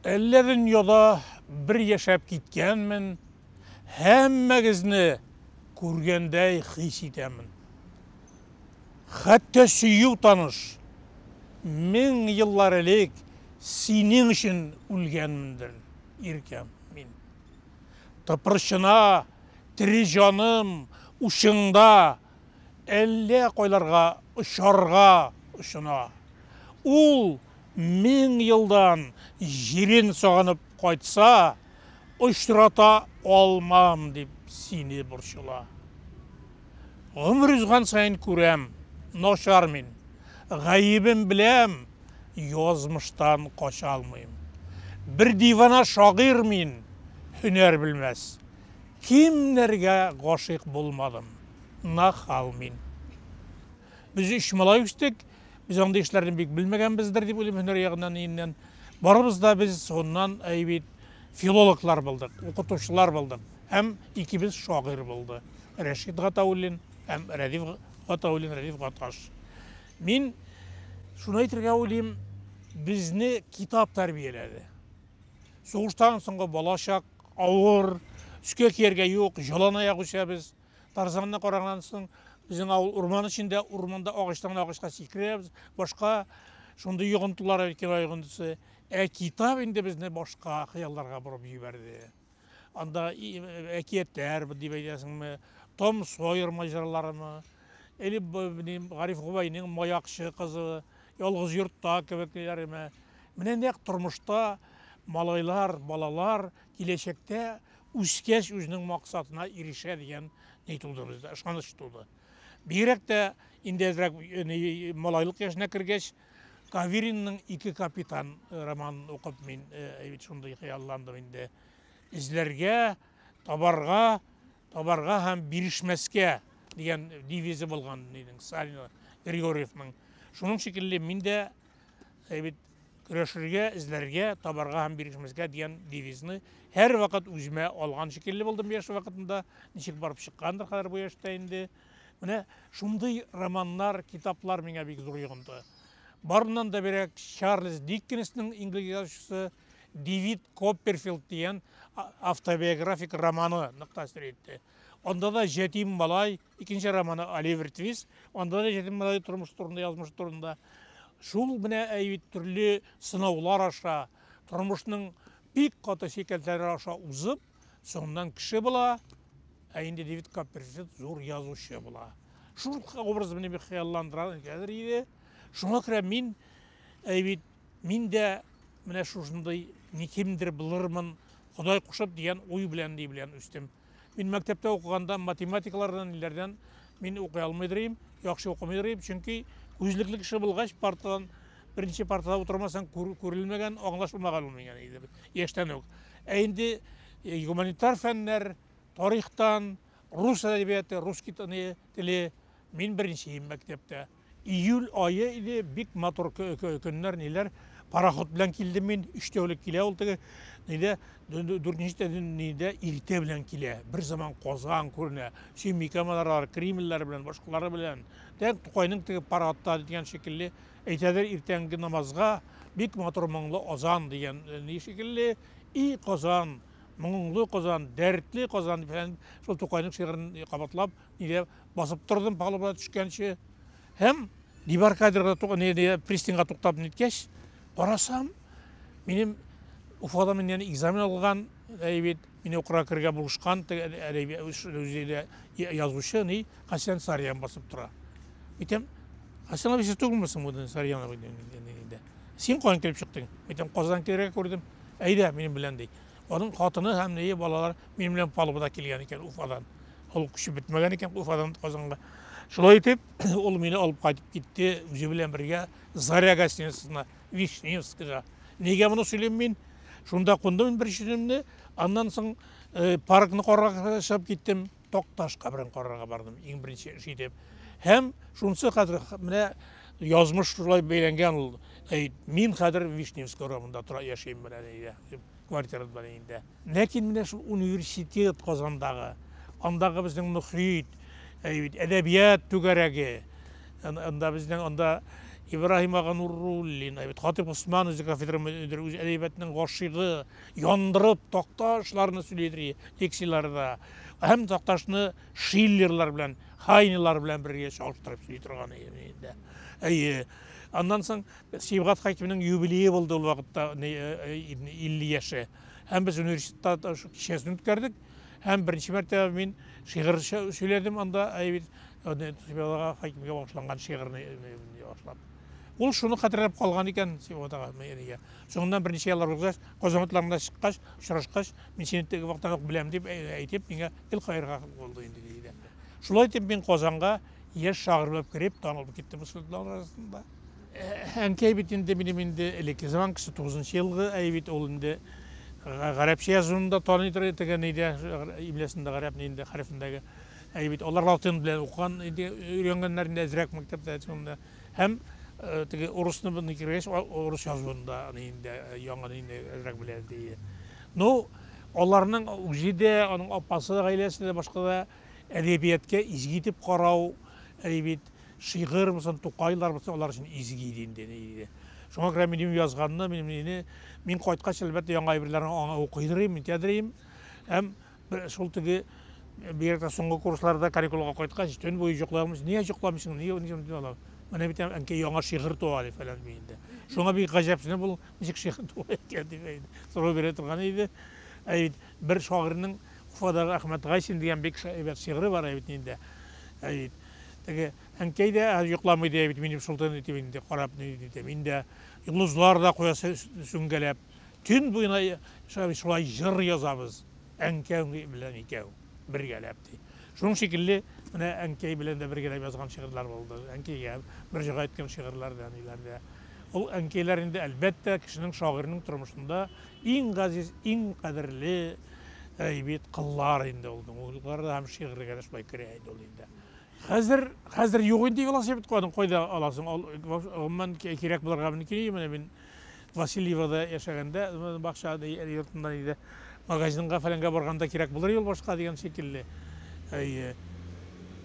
Әллә дөньяда бер яшәп киткәнмен, һәммәгезне күргәндәй хис итәмен. Хәтта сөю таныш, мең еллар элек синең өчен үлгәнмендер, иркәм, мин. Тыпырчына, тере җаным, учыңда, әллә кайларга очарга очына. Ул мең елдан җирен сагынып кайтса, очрата алмам дип сине борчыла. Гомер узган саен күрәм, начар мин, гаебем беләм, язмыштан кача алмыйм. Бер дивана шагыйрь мин, һөнәр белмәс, Кемнәргә гашыйк булмадым, нахал мин. Без өч малай үстек, без андый эшләрне бик белмәгәнбездер дип уйлыйм һөнәр ягыннан иеннән. Барыбыз да без соннан әй бит филологлар булдык, укытучылар булдык һәм икебез шагыйрь булды. Рәшит Гатауллин һәм Рәдиф Гатауллин, Рәдиф Гаташ. Мин шуны әйтергә уйлыйм, безне китап тәрбияләде. Сугыштан соңгы балачак Авыр, өскә кияргә юк, җолан аяк үсәбез. Тарзанны караганнан соң, безнең авыл урман эчендә, урманда агачтан гына агачка сикерәбез. Башка шундый йогынтылар Әлкилай йогынтысы. Ә китап инде безне башка хыялларга борып җибәрде. Анда әкиятләр дип әйтәсеңме, Том Сойер маҗараларымы, или Гариф Губайның Маякчы кызы, Ялгыз йортта кебек диләреме? Менә нәкъ тормышта малайлар, балалар киләчәктә үскәч үзенең максатына ирешә дигән ни туды бездә, ышаныч туды. Бигрәк тә инде әзрәк малайлык яшенә кергәч, Каверинның ике капитан романын укып мин шундый хыялландым инде. Эзләргә, табарга, Табарга һәм бирешмәскә дигән девизы булган нинең, Сталин Григорьевның. Шуның шикелле мин дә э, бит көрәшергә, эзләргә, табарга һәм бирешмәскә дигән девизны һәрвакыт үземә алган шикелле булдым яшь вакытында. Ничек барып чыккандыр хәзер бу яшьтә инде. Менә шундый романнар, китаплар миңа бик зур йогынты. Барыннан да берәк Чарльз Диккенсның инглиз язучысы Дэвид Копперфилд дигән автобиографик романы нык тәэсир итте. Анда да җәтим малай, икенче романы Оливер Твист, анда да җәтим малай тормыш турында, язмыш турында. Шул менә әйбит төрле сынаулар аша, тормышның бик каты шикелтләре аша узып, соңыннан кеше була, ә инде Дэвид Копперфилд зур язучы була. Шул образ мине бик хыялландыра, хәзер иде. Шуңа күрә мин әйбит Мин дә менә шушындый ни кимдер булырмын, Ходай кушып дигән уй белән ни белән үстем. Мин мәктәптә укыганда математиклардан ниләрдән мин укый алмый дирим, яхшы укымый дирим, чөнки күзлекле кеше булгач партадан беренче партада утырмасаң күрелмәгән, аңлашылмаган ул миңа иде яшьтән үк. Ә инде э, гуманитар фәннәр, тарихтан, рус әдәбияты, рус теле мин беренче мәктәптә. Июль ае иде, бик матур көннәр, ниләр. Пароход белән килдем мин, өч тәүлек килә ул теге, нидә, дүртенче тәүлек нидә, иртә белән килә. Бер заман Казан күренә, Сөембикә манаралары, Кремльләре белән, башкалары белән. Дәк Тукайның теге пароходта дигән шикелле, әйтәдер иртәнге намазга бик матур моңлы азан дигән э, ни шикелле, и Казан, моңлы Казан, дәртле Казан, шул Тукайның шигырен кабатлап, Нигә басып тордым палубага төшкәнче. Һәм дебаркадерга пристаньга туктап ниткәч, карасам, минем Уфада мин яны экзамен алган, әй бит, мине укырга кергә булышкан, үзе язучы, ни, Хасян Сарьян басып тора. Әйтәм, Хасян абый, сез түгелме соң бу Сарьян абый? Син каян килеп чыктың? Әйтәм, Казан кергә күрдем. Әйдә, минем белән ди. Аның хатыны һәм ние балалар Минем белән палубада килгән икән Уфадан. Ул көче бетмәгән икән Уфадан Казанга. Шулай итеп, ул мине алып кайтып китте, үзе белән бергә Заря гостиницасына, Вишневскига. Нигә моны сөйлим мин? Шунда кундым мин беренче төнемне, аннан соң э, паркны карарга чыгып киттем, Токташ каберен карарга бардым, иң беренче эш итеп. Һәм шунысы хәзер менә язмыш шулай бәйләнгән ул. Мин хәзер Вишневский урамында тора яшим менә нигә. квартирада бар инде. Ләкин менә шул университет Казандагы, андагы безнең мөхит, әйбит, әдәбият түгәрәге, анда безнең анда Ибраһим ага Нуруллин, әйбит, Хатип Усман үзе кафедра мөдире, үзе әдәбиятның гашыйгы, яндырып такташларны сөйлидри лекцияләрдә. Һәм такташны Шиллерлар белән, Хайнелар белән бергә чагыштырып сөйли торган инде. Әйе. Аннан соң Сибгат хакимның юбилее булды ул вакытта, 50 яше. Һәм без университетта шул кичәсен үткәрдек. Һәм беренче мәртәбә мин шигырь сөйләдем анда, әйбит, Сибгат хакимгә багышланган шигырьне башлап. Ул шуны хәтерләп калган икән Сибгат әнигә. Соңыннан берничә еллар узгач, Казан утларында чыккач, очрашкач, мин сине теге вакыттан ук беләм дип әйтеп, миңа гел каерга булды инде, ди дә. Шулай итеп мин Казанга яшь шагыйрь булып кереп, танылып киттем студентлар арасында. Әнкәй бит инде минем инде элекке заман кеше, 9 елгы әй бит ул инде гарәпчә язуын да таный торган тегән иде, имлясында гарәп инде хәрефендәге. Әй бит алар латин белән укыган иде, өйрәнгәннәр инде әзрәк мәктәптә шунда. Һәм э, теге урысны бу кергәч, урыс язуын да инде э, яңа инде әзрәк белә ди. Ну, аларның үзе дә, аның апасы да, гаиләсе дә башка да әдәбиятка изге итеп карау, әй бит Шигырь булсын, Тукайлар булсын, алар өчен изге иде инде, ни иде. Шуңа күрә минем язганны, минем нини, мин кайткач, әлбәттә, яңа әйберләрне аңа укыйдырыйм, нитәдерим. Һәм бер- шул теге, бигрәк тә соңгы курсларда каникулга кайткач, төн буе җокламыйча, нигә җокламыйсың, нигә уйныйсың, дип алам. Менә бит, ә- әнкәй, яңа шигырь туа, ди, фәлән ди инде. Шуңа бик гаҗәпсенеп, ул ничек шигырь туа икән, дип әйтеп, сорау бирә торган иде. Ә бит бер шагыйрьнең Уфадагы Әхмәт Гайсин дигән бик әйбәт шигыре бар әйбит инде. Әйбит. Теге әнкәй дә йоклама иде әйбит минем шултан итеп инде карап ни диде. Мин дә йолдызлар да коясы сүнгәләп төн буена шулай җыр язабыз. Әнкәң белән икәү бергәләп ди. Шуның шикелле менә әнкәй белән дә бергәләп язган шигырьләр булды. Әнкәйгә мөрҗәгать иткән шигырьләр дә ниләр дә. Ул әнкәйләр инде әлбәттә кешенең шагыйрьнең тормышында Иң газиз, иң кадерле әй бит кыллар инде ул. Музыкаларга һәм шигырьләргә дә шулай керә иде ул инде. Хәзер, хәзер юк инде велосипед куәдең, кайда аласың? Ал, гомумән, кирәк булырга мөмкин, менә мин Васильевода яшәгәндә, бакча йортында иде, магазинга фәләнгә барганда кирәк булыр юлбашка дигән шикелле. Әйе.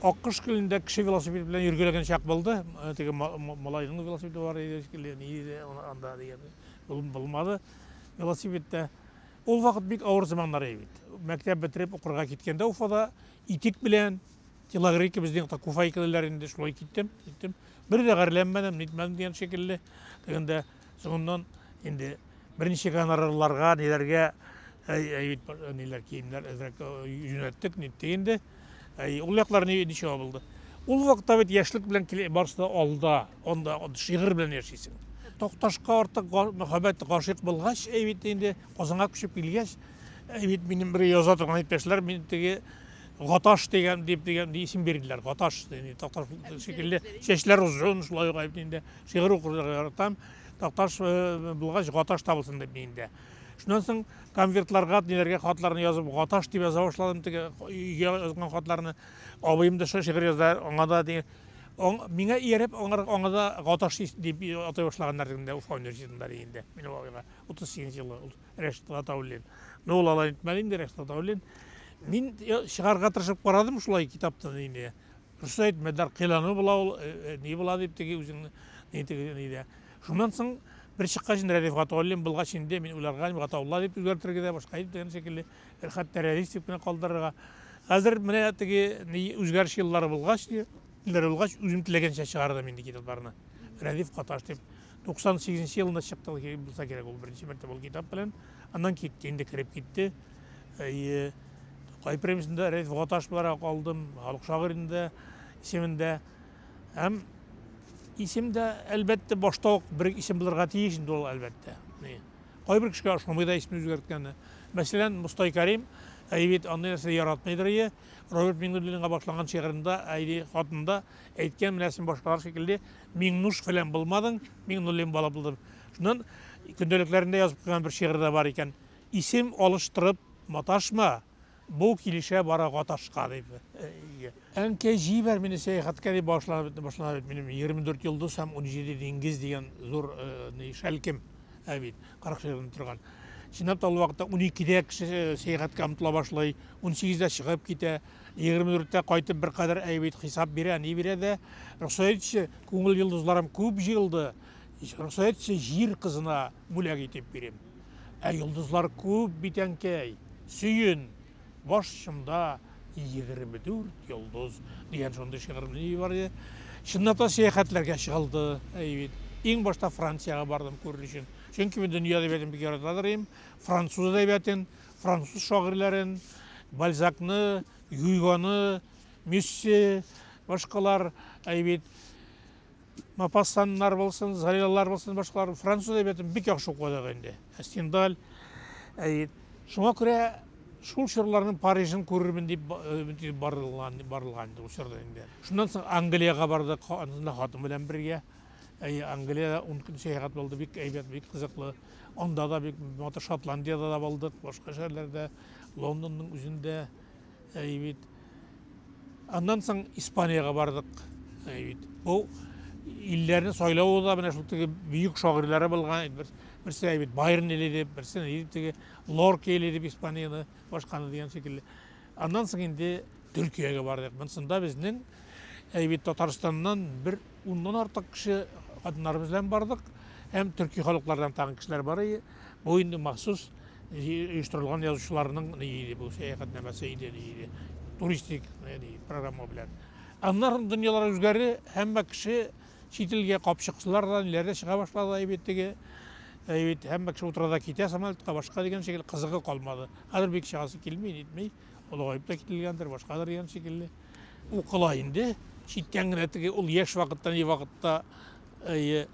Аккош көлендә кеше велосипед белән йөргәләгән чак булды, теге малайның велосипеды бар иде шикелле, ни иде анда дигән. Улым булмады велосипедта. Ул вакыт бик авыр заманнар иде бит. Мәктәп бетереп укырга киткәндә Уфада итек белән телогрейка безнең якта куфай киләләр инде, шулай киттем, киттем. Бер дә гарьләнмәдем, нитмәдем дигән шикелле. Дигәндә соңыннан инде берничә гонорарларга, ниләргә әй, әй, ниләр киемнәр әзрәк юнәттек, ниттек инде. Ул яклар ничек абылды? Ул вакытта бит яшьлек белән барысы да алда, анда шигырь белән яшисең. Токташка артык мәхәббәт гашыйк булгач, әй бит инде Казанга күчеп килгәч, әй бит минем бер яза торган иптәшләр мин теге Гаташ дигән дип дигән исем бирделәр. Гаташ дигән Токташ шикелле чәчләр озын, шулай ук әй бит инде шигырь укырга яратам. Токташ э, булгач Гаташ табылсын дип мин инде. Шуннан соң конвертларга, ниләргә хатларны язып, гаташ дип яза башладым теге өйгә язган хатларны. Абыем да шигырь яза, аңа да диген. Миңа ияреп, аңар аңа да гаташ дип атай башлаганнар инде Уфа университетында инде. Мин бабайга 38 елы ул Рәшит Гатауллин. Ну ул алай итмәде инде Рәшит Гатауллин. Мин чыгарга тырышып карадым шулай китаптан инде. Дөрес әйтмәделәр, кыйлану була ул, ни була дип теге үзеңне, ни теге ни дә. Шуннан соң бер чыккач инде Рәдиф Гатауллин булгач инде мин уйларга Гатаулла дип үзгәртергә дә, башка итеп дигән шикелле, хәтта Рәдиф дип кенә калдырырга. Хәзер менә теге ни үзгәреш еллары булгач, еллары булгач үзем теләгәнчә чыгардым инде китапларны. Рәдиф Каташ дип Туксан сигезенче елында чыкты ул, булса кирәк, ул беренче мәртәбә ул китап белән. Аннан китте, инде кереп китте. Әйе. Тукай премиясендә Рәис Ваташ буларак алдым, халык шагыйрендә исемендә. Һәм исем дә, әлбәттә, башта ук бер исем булырга тиеш инде ул, әлбәттә. Кайбер кешегә ошамый да исемне үзгәрткәне. Мәсәлән, Мостай Кәрим, әйе бит, андый нәрсә яратмыйдыр ие. Роберт Миңнуллинга багышланган шигырендә Айри хатында әйткән менә син башкалар шикелле Миңнуш фәлән булмадың, Миңнуллин бала булдың. Шуннан көндәлекләрендә язып куйган бер шигырь дә бар икән. Исем алыштырып маташма, бу килешә бара гаташка дип. Әнкәй, җибәр мине сәяхәткә дип башлана бит минем 24 йолдыз һәм 17 диңгез дигән зур шәлкем. Ә бит, 40 чыгып торган. Чинап та ул вакытта 12-дә кеше э, сәяхәткә омтыла башлый, 18-дә чыгып китә, 24-тә кайтып бер кадәр әй бит хисап бирә, ни бирә дә. Рөхсәт итче, күңел йолдызларым күп җыелды. Рөхсәт итче, җир кызына бүләк итеп бирим. Ә йолдызлар күп бит, әнкәй. Сөен. Баш очымда 24 йолдыз дигән шундый шигырем бар иде. Чыннан да сәяхәтләргә чыгылды. Әй бит. Иң башта Франциягә бардым күрер өчен. Чөнки мин дөнья әдәбиятын бик ярата торыйм. Француз әдәбиятын, француз шагыйрьләрен, Бальзакны, Гюйгоны, Мюссе, башкалар, әй бит. Мопасаннар булсын, залялар булсын, башкалар француз әдәбиятын бик яхшы укыдык инде. Стендаль. Шуңа күрә шул чорларның Парижын күрермен дип э, барылган барылган инде ул чорда инде. Шуннан соң Англиягә бардык, анда хатын белән бергә. Әйе, Англиядә ун көн сәяхәт булды, бик әйбәт, бик кызыклы. Анда да бик матур Шотландиядә дә булдык, башка шәһәрләрдә, Лондонның үзендә. Әй бит. Аннан соң Испаниягә бардык. Әй бит. Бу илләрне сайлау да менә шул теге бөек шагыйрьләре булган бер берсе әй бит Байрон или дип, берсе ни дип теге Лорки или дип Испанияны башканы дигән шикелле. Аннан соң инде Төркиягә бардык. Монсында безнең әй бит Татарстаннан бер Уннан артык кеше хатыннарыбыз белән бардык. Һәм төрки халыклардан тагын кешеләр бар иде. Бу инде махсус оештырылган язучыларның ни иде бу сәяхәтнамәсе иде ни иде. Туристик ни программа белән. Аннары дөньялар үзгәрде, һәммә кеше чит илгә капчыкчылар да, ниләр дә чыга башлады әйбит теге. Әйбит һәммә кеше утыра да китә самолетка, башка дигән шикелле кызыгы калмады. Хәзер бик чыгасы килми, нитми. Олыгаеп та кителгәндер, башкадыр дигән шикелле. Укыла инде. Читтән генә теге ул яшь вакытта, ни вакытта әйе.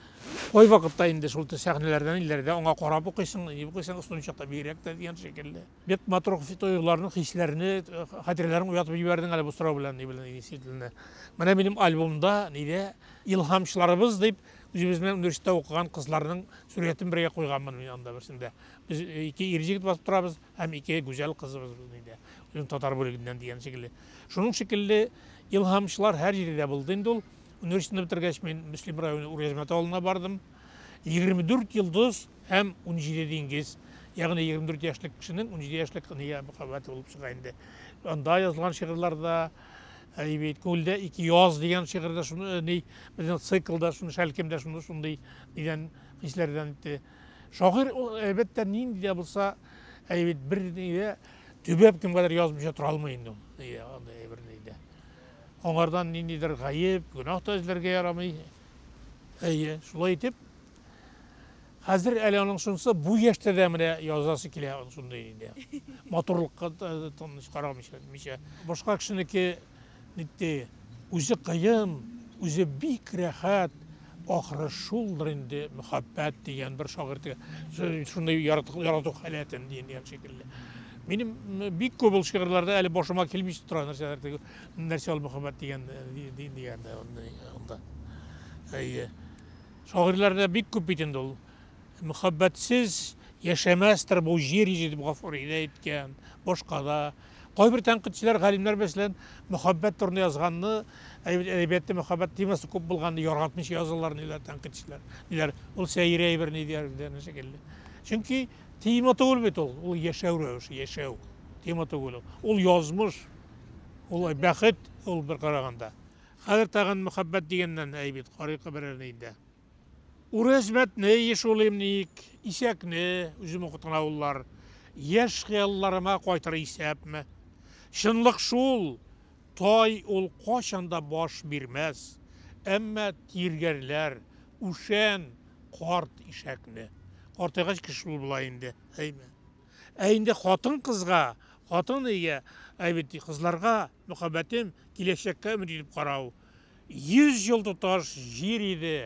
Кай вакытта инде шул сәхнәләрдән илләрдә аңа карап укыйсың, ни укыйсың, ысулын чакта бигрәк тә дигән шикелле. Бик матур тоюларны, хисләрне, э, хатирәләрен уятып җибәрдең әле бу сорау белән, ни белән, действительно. Менә минем альбомда, нидә, илһамчыларыбыз дип, үзебез белән университетта укыган кызларның сурәтен бергә куйганмын мин анда берсендә. Без э, ике ир егет басып торабыз. Һәм ике гүзәл кызыбыз без инде, үзем татар бүлегеннән дигән шикелле. Шуның шикелле илһамчылар һәр җирдә дә булды инде ул. Университетны бетергәч, мин Мөслим районы Уръязмәт авылына бардым. 24 йолдыз һәм 17 диңгез. Ягъни 24 яшьлек кешенең 17 яшьлек книгага мөхәббәте булып чыга инде. Анда язылган шигырьләрдә Әй бит, күлдә ике яз дигән шигырьдә шуны ни, безнең циклда шуны шәлкемдә шуны шундый дигән хисләрдән итте. Шагыйрь ул, әлбәттә, нинди дә булса әйбит, берни дә төбәп кемгәдер язмыйча тора алмый инде ул. Әйе, андый әйберне дә. Аңардан ниндидер гаеп, гөнаһ та эзләргә ярамый. Әйе, шулай итеп, хәзер әле аның шунысы бу яшьтә дә менә язасы килә, шундый инде. Матурлыкка тыныч карамыйча, башка кешенеке Нитти, үзе кыен, үзе бик рәхәт, ахры шулдыр инде мөхәббәт дигән бер шагыйрьтә шундый ярату, ярату халәтен дигән дигән шикелле. Минем бик күп ул шигырьләрдә әле башыма килми тора нәрсәләр теге нәрсә ул мөхәббәт дигән дигән анда. Әйе. Шагыйрьләрдә бик күп бит инде ул. Мөхәббәтсез яшәмәстер бу җир йөзе, дип Гафури дә әйткән, башка да. Кайбер тәнкыйтьчеләр, галимнәр, мәсәлән, мөхәббәт турында язганны, әдәбиятта мөхәббәт темасы күп булганны яратмыйча язалар, диләр тәнкыйтьчеләр. Диләр, ул сәер әйбер, ни дияр дигән шикелле. Чөнки тема түгел бит ул, ул яшәү рәвеше, яшәү тема түгел ул. Ул язмыш, ул бәхет, ул бер караганда. Хәзер тагын мөхәббәт дигәннән әй бит, карыйк берәрне инде. Үрәзмәтне еш уйлыйм ник, Исәкне, үзем укыткан авыллар, Яшь хыялларыма кайтыр исәпме? Чынлык шул, тай ул кайчан да баш бирмәс, Әмма тиргәрләр, үшән, карт ишәкне. Картайгач кеше шул була инде, әйме? Ә инде хатын-кызга, хатын-иягә, әй бит, кызларга, мөхәббәтем, киләчәккә өмет итеп карау, Йөз ел тоташ җир иде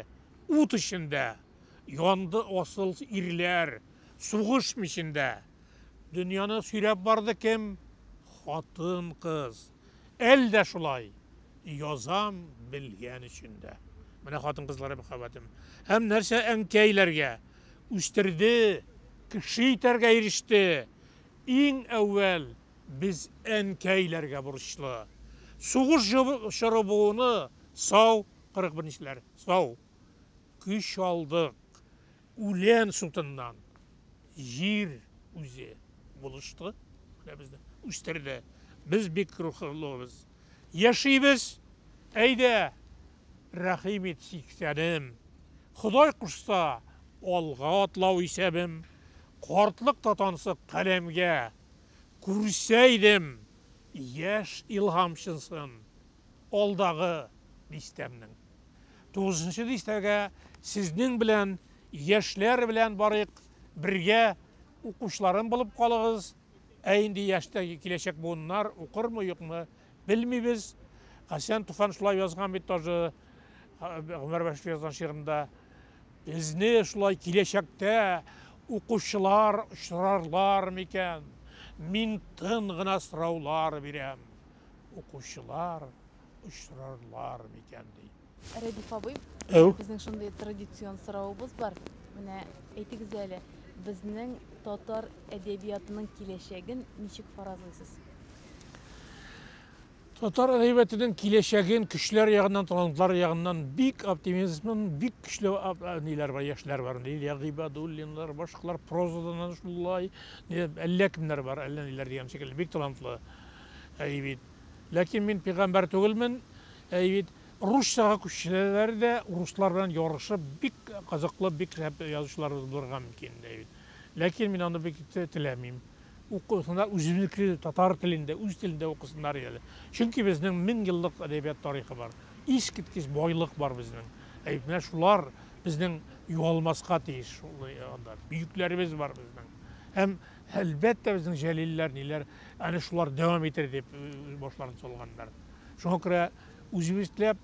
ут эчендә, Янды асыл ирләр сугыш мичендә. Дөньяны сөйрәп барды кем? Хатын-кыз. Әле дә шулай язам белгән өчен дә. Менә хатын-кызлар мәхәббәтен. Һәм нәрсә әнкәйләргә? Үстерде, кеше итәргә иреште. Иң әүвәл Без әнкәйләргә бурычлы. Сугыш чоры буыны сау, 41 нчеләр, сау. Көч алдык. Үлән сутыннан. Җир үзе булышты. Менә безне үстерде. Без бик рухлыбыз. Яшибез. Әйдә, рәхим ит, 80-ем. Ходай кушса, алга атлау исәбем. Картлык татансы каләмгә. Күрсә идем яшь илһамчынсын алдагы дистәмнең. Тугызынчы дистәгә сезнең белән, яшьләр белән барыйк, бергә укучыларым булып калыгыз. Ә инде яшьтәге киләчәк буыннар укырмы, юкмы, белмибез. Хәсән Туфан шулай язган бит тоже, Гомәр Бәширов язган шигырында. Безне шулай киләчәктә укучылар очрарлар микән? Мин тын гына сораулар бирәм. Укучылар очрарлар микән ди. Рәдиф абый, Әү. безнең шундый традицион соравыбыз бар. Менә әйтегез әле, безнең татар әдәбиятының киләчәген ничек фаразлыйсыз? Татар әдәбиятының киләчәген көчләр ягыннан, талантлар ягыннан бик оптимизмын, бик көчле ниләр бар, яшьләр бар. Лилия Гыйбадуллиннар, башкалар прозадан да шулай, әллә кемнәр бар, әллә ниләр дигән шикелле, бик талантлы. Әй бит. Ләкин мин пигамбәр түгелмен. Әй бит. Русчага күчсәләр дә, руслар белән ярышып, бик кызыклы, бик шәп язучыларыбыз булырга мөмкин, әй бит. Ләкин мин аны бик теләмим. укысыннар, үзебезнеке татар телендә, үз телендә укысыннар иде әле. Чөнки безнең мең еллык әдәбият тарихы бар. Искиткеч байлык бар безнең. Ә бит менә шулар безнең югалмаска тиеш шул э, анда. Бөекләребез бар безнең. Һәм әлбәттә безнең җәлилләр ниләр, әнә шулар дәвам итер дип э, башларын салганнар. Шуңа күрә үзебезләп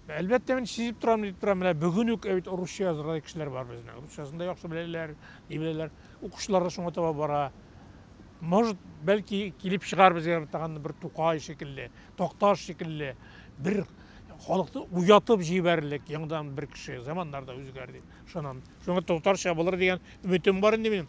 Әлбәттә, мин сизеп торам, дип торам, менә бүген үк бит русча язырдай кешеләр бар безнең. Русчасын да яхшы беләләр, ни беләләр. Укучылар да шуңа таба бара. Может, бәлки килеп чыгар безгә тагын бер Тукай шикелле, Такташ шикелле бер халыкны уятып җибәрерлек яңадан бер кеше. Заманнар да үзгәр дип ышанам. Шуңа татарча булыр дигән өметем бар инде минем.